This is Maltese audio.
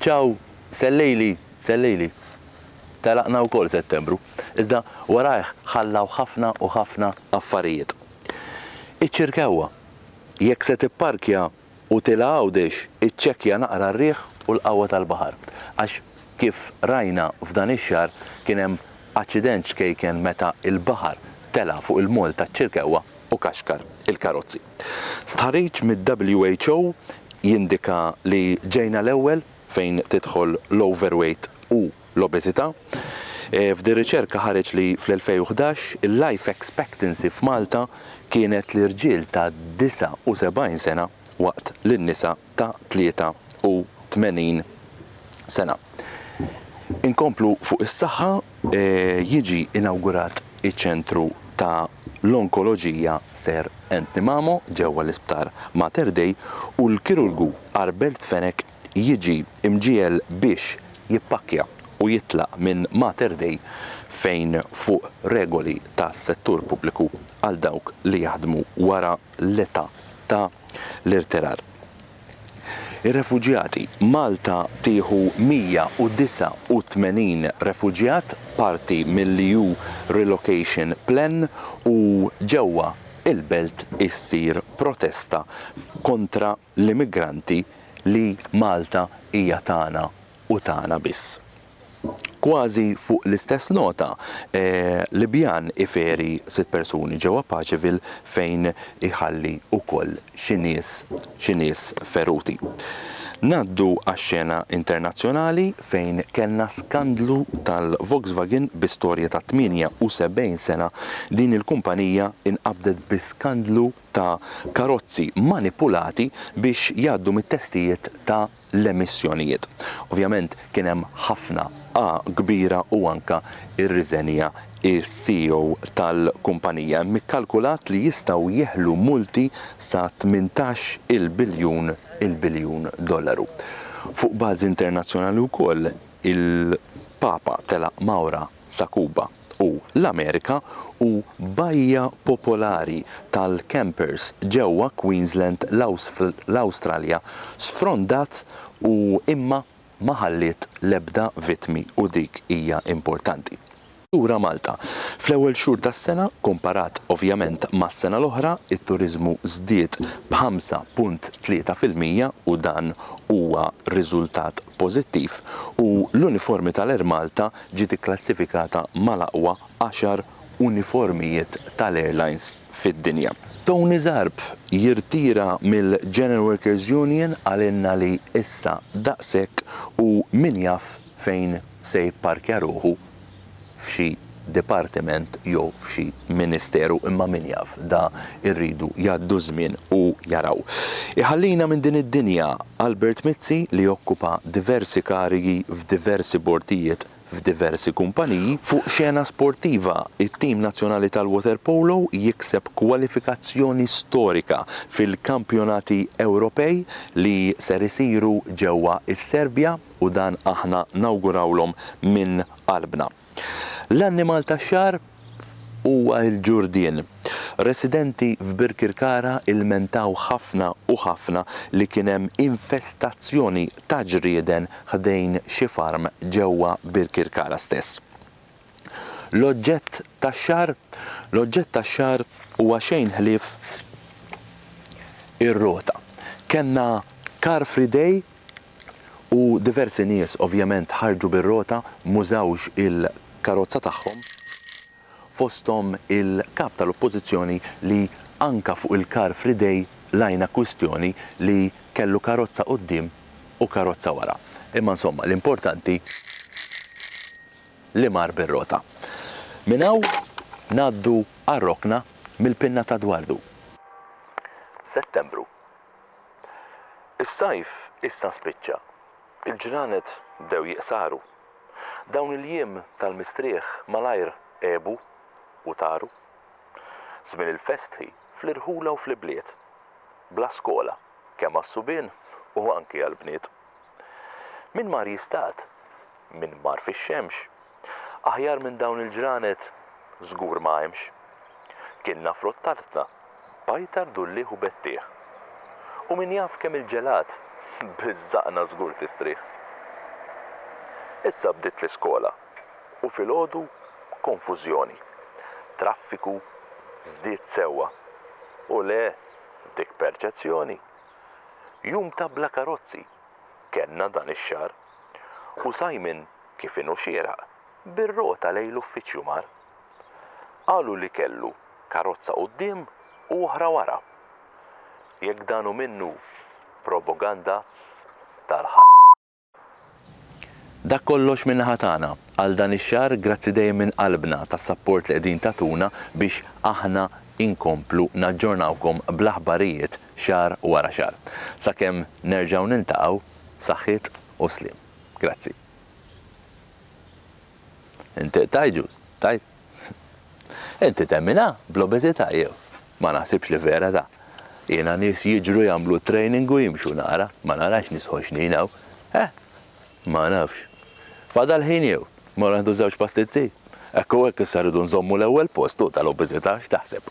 Ciao, sellejli, sellejli. Telaqna wkoll Settembru, iżda warajh ħallaw ħafna u ħafna affarijiet. Iċ-Ċirkewwa, jekk se tipparkja u tilgħa Għawdex iċċekkja naqra r-riħ u l-qawwa tal-baħar, għax kif rajna f'dan ix-xahar kien hemm aċċident ċkejken meta l-baħar tela' fuq il-moll taċ-Ċirkewwa. u kaxkar il-karozzi. Stħarriġ mid-WHO jindika li ġejna l-ewwel fejn tidħol l-overweight u l-obeżità. F'din riċerka ħareġ li fl-2011 il-life expectancy f'Malta kienet l-irġiel ta' 79 sena waqt li n-nisa ta' 83 sena. Inkomplu fuq is-saħħa, jiġi inawgurat iċ-Ċentru ta' l-Onkoloġija Sir Anthony Mamo ġewwa l-Isptar Mater Dei u l-kirurgu Arbert Fenech jiġi mġiegħel biex jippakkja u jitlaq minn Mater Dei fejn fuq regoli tas-settur pubbliku għal dawk li jaħdmu wara l-età ta' l-irtirar. Ir-refuġjati, Malta tieħu 189 refuġjat parti mill-EU Relocation Plan u ġewwa il-belt issir protesta kontra l-immigranti li Malta hija tagħna u tagħna biss. Kważi fuq l-istess nota, Libjan iferi sitt persuni ġewwa Pageville fejn iħalli wkoll xi nies xi nies feruti. Ngħaddu għax-xena internazzjonali fejn kellna skandlu tal-Volkswagen bi storja ta' 78 sena din il-kumpanija inqabdet bi skandlu ta' karozzi manipulati biex jgħaddu mit-testijiet ta' l-emissjonijiet. Ovvjament kien hemm ħafna A kbira u anke rriżenja s-CEO tal-kumpanija. Hemm ikkalkulat li jistgħu jeħlu multi sa 18 il biljun il biljun dollaru. Fuq bażi internazzjonali wkoll il-Papa telaq Maura sa Kuba. u l-Amerika hu bajja popolari tal-campers ġewwa Queensland, l-Awstralja sfrondat u imma ma ħalliet l-ebda vittmi u dik hija importanti. Lura Malta. Fl-ewwel xhur tas-sena, komparat ovvjament mas-sena l-oħra, it-turiżmu żdied b' 5.3 fil-mija u dan huwa riżultat pożittiv u l-uniformi tal-Air Malta ġiet ikklassifikata mal-aqwa għaxar uniformijiet tal-airlines fid-dinja. Tony Zarb jirtira mill-General Workers Union qalilna li issa daqshekk u min jaf fejn se jipparkja ruħu f'xi dipartiment jew f'xi ministeru imma min jaf, da irridu jgħaddu ż-żmien u jaraw. Iħallina minn din id-dinja Albert Mizzi li okkupa diversi karigi f'diversi bordijiet f'diversi kumpaniji. Fuq xena sportiva, it-tim nazzjonali tal-waterpolo jikseb kwalifikazzjoni storika fil-Kampjonati Ewropej li ser isiru ġewwa s-Serbja. u dan aħna nawgurawlhom minn qalbna. L-annimal tax-xahar huwa l-ġurdien. Residenti f'Birkirkara ilmentaw ħafna u ħafna li kien hemm infestazzjoni ta' ġrieden ħdejn xi farm ġewwa Birkirkara stess. L-oġġett tax-xahar? L-oġġett tax-xahar huwa xejn ħlief ir-rota. Kellna Car Free Day u diversi nies ovvjament ħarġu bir-rota m'użawx il-karozza tagħhom fosthom il-Kap tal-Oppożizzjoni li anka fuq il-Car Free Day lajna kwistjoni li kellu karozza quddiem u karozza wara. Imma insomma l-importanti li mar bir-rota. Minn hawn ngħaddu għar-rokna mill-pinna ta' Dwardu. Settembru. Is-sajf issa spiċċa. Il-ġranet bdew jiqsaru. Dawn il-jiem tal-mistrieħ malajr għebu u taru. Żmien il-festħi fl-irħula u fl-ibliet. Bla skola, kemm għas-subien u anki għall-bniet. Min mar jistad? min mar fix-xemx. Aħjar minn dawn il-ġranet żgur ma hemmx. Kienna frott tartna, pajtar dullieħ u bettieħ. U min jaf kemm il-ġelat biż-żaqna żgur tistrieħ. Issa bdiet l-iskola u filgħodu konfużjoni. Traffiku żdied sewwa. U le, dik perċezzjoni. Jum ta' bla karozzi kellna dan ix-xahar. u Simon, kif inhu xieraq, bir-rota lejn l-uffiċċju mar. Qalu li kellu karozza quddiem u oħra wara. Jekk dan hu minnu proboganda tal. Dak kollox min-naħa tagħna għal dan ix-xahar, grazzi dejjem minn qalbna tas-sapport li qegħdin tagħtuna biex aħna inkomplu naġġornawkom bl-aħbarijiet xahar wara xahar. Sakemm nerġgħu niltaqgħu, saħħiet u sliem. Grazzi. Inti qed tgħid ġust, tajt? Inti temminha bl-obeżità jew? Ma naħsibx li vera da. Jiena nies jiġru jagħmlu training u jimxu nara, ma narax nies ħoxnin hawn. Eh, ma nafx. Fadal ħin jew? Ma naħdu żewġ pastizzi? Hekk u hekk issa rridu nżommu l-ewwel post u tal-obeżità x'taħseb?